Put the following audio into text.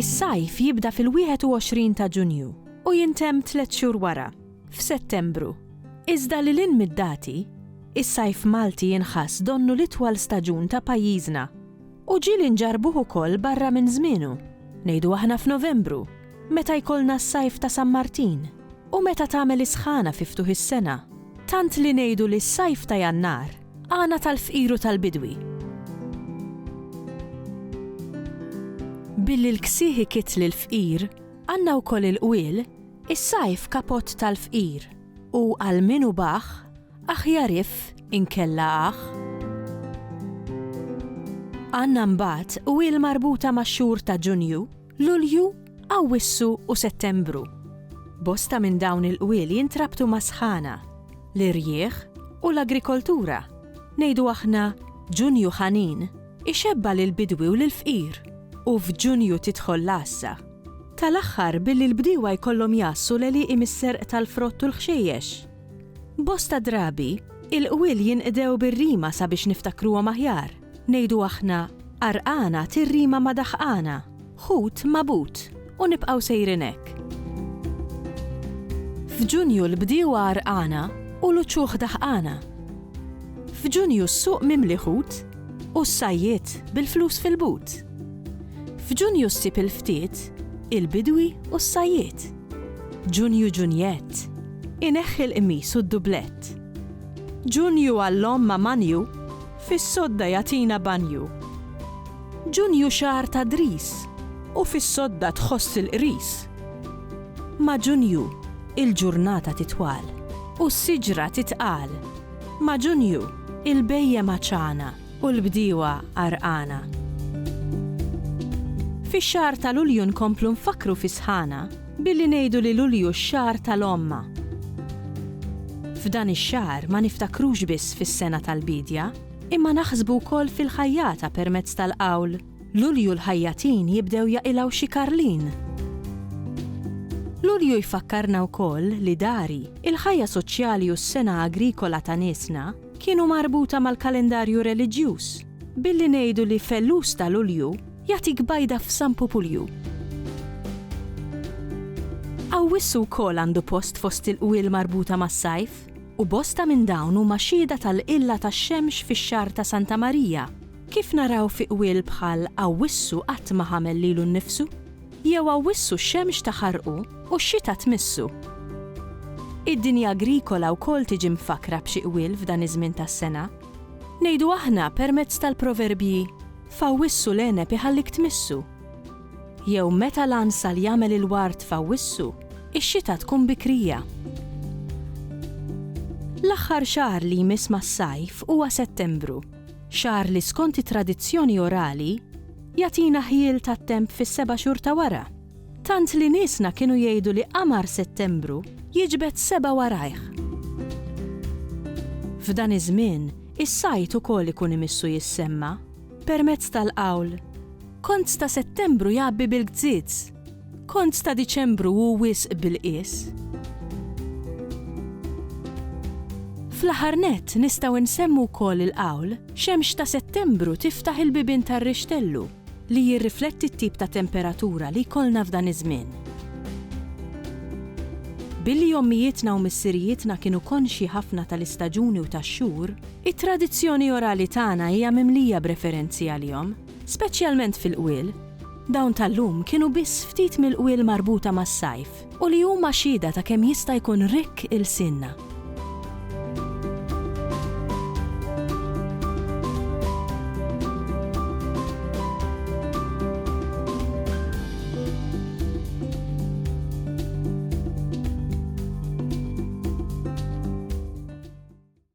Is-sajf jibda fil-21 ta' Ġunju u jintemm tliet xhur wara, f'Settembru. Iżda lil hinn mid-dati, is-sajf Malti jinħass donnu l-itwal staġun ta' pajjiżna. U ġie li nġarrbuh ukoll barra minn żmienu, ngħidu aħna f'Novembru, meta jkollna s-Sajf ta' San Martin, u meta tagħmel is-sħana fi ftuħ is-sena, tant li ngħidu li s-Sajf ta' Jannar għana tal-fqir u tal-bidwi. Billi l-ksieħ ikitt lill-fqir, għandna wkoll il-qwiel, is-Sajf kapott tal-fqir, u għal min hu baħħ, Aħjar if inkella aħ. Għandna mbagħad u hi l-marbuta max-xhur ta' Ġunju, Lulju, Awwissu u Settembru. Bosta minn dawn il-qwiel jintrabtu mas-sħana, l-irjieħ u l-agrikoltura. Ngħidu aħna Ġunju ħanin ixebba' lill-bidwi u lill-fqir u f'Ġunju tidħol l-għassa. Tal-aħħar billi l-bdiewa jkollhom jgħassu l-għelieqi mis-serq tal-frott u l-ħxejjex. Bosta drabi, il-qwiel jinqdew bir-rima sabiex niftakruhom aħjar. Ngħidu aħna, Għarqana tirrima ma' daħqana, ħut ma' but, u nibqgħu sejrin hekk. F'Ġunju l-bdiewa għarqana u l-uċuħ daħqana. F'Ġunju s-suq mimli ħut u s-sajjied bil-flus fil-but. F'Ġunju ssib il-ftiet, il-bidwi u s-sajjied. Ġunju Ġunjett, ineħħi l-qmis u d-dublett. Ġunju għall-omm ma' manju, fis-sodda jagħtina banju. Ġunju xahar ta' dris, u fis-sodda tħoss il-qris. Ma' Ġunju, il-ġurnata titwal, u s-siġra titqal. Ma' Ġunju, il-bhejjem għatxana. U l-bdiewa għarqana. Fix-xahar ta' Lulju nkomplu nfakkru fis-sħana billi ngħidu li Lulju x-xahar tal-omma. F'dan ix-xahar ma niftakrux biss fis-sena tal-biedja, imma naħsbu wkoll fil-ħajjata permezz tal-qawl, Lulju l-ħajjatin jibdew jaqilgħu xi karlin. Lulju jfakkarna wkoll li dari, il-ħajja soċjali u s-sengħa agrikola ta' niesna, kienu marbuta mal-kalendarju reliġjuż, billi ngħidu li Fellus ta' Lulju jagħtik bajda f'San Pupulju. Awwissu wkoll għandu post fost il-qwiel marbuta mas-sajf, u bosta minn dawn huma xhieda tal-qilla tax-xemx fix-xahar ta' Santa Marija, kif naraw fi qwiel bħal Awwissu qatt ma ħamel lilu nnifsu. Jew awwissu x-xemx ta' ħarqu u x-xita tmissu. Id-dinja agrikola wkoll tiġi mfakkra b'xi qwiel f'dan iż-żmien tas-sena. Ngħidu aħna permezz tal-proverbji, F'awwissu l-għeneb iħallik tmissu. Jew meta l-għansal jagħmel il-ward f'awwissu, ix-xita tkun bikrija. L-aħħar xahar li jmiss mas-sajf huwa Settembru, xahar li skont it-tradizzjoni orali, Jagħtina ħjiel tat-temp fis-seba' xhur ta' wara, tant li niesna kienu jgħidu li qamar Settembru jiġbed sebgħa warajh. F'dan iż-żmien, is-sajd ukoll ikun imissu jissemma, permezz tal-qawl, Kont ta' Settembru jgħabbi bil-gzież. Kont ta' Diċembru hu wisq bil-qies? Fl-aħħar nett nistgħu nsemmu wkoll il-qawl, Xemx ta' Settembru tiftaħ il-bibien tar-rixtellu, li jirrifletti t-tip ta' temperatura li jkollna f'dan iż-żmien. Billi ommijietna u missirijietna kienu konxji ħafna tal-istaġuni u tax-xhur, it-tradizzjoni orali tagħna hija mimlija b'referenzi għalihom. speċjalment fil-qwiel. Dawn tal-lum kienu biss ftit mill-qwiel marbuta mas-sajf u li huma xhieda ta' kemm jista' jkun rikk ilsienna.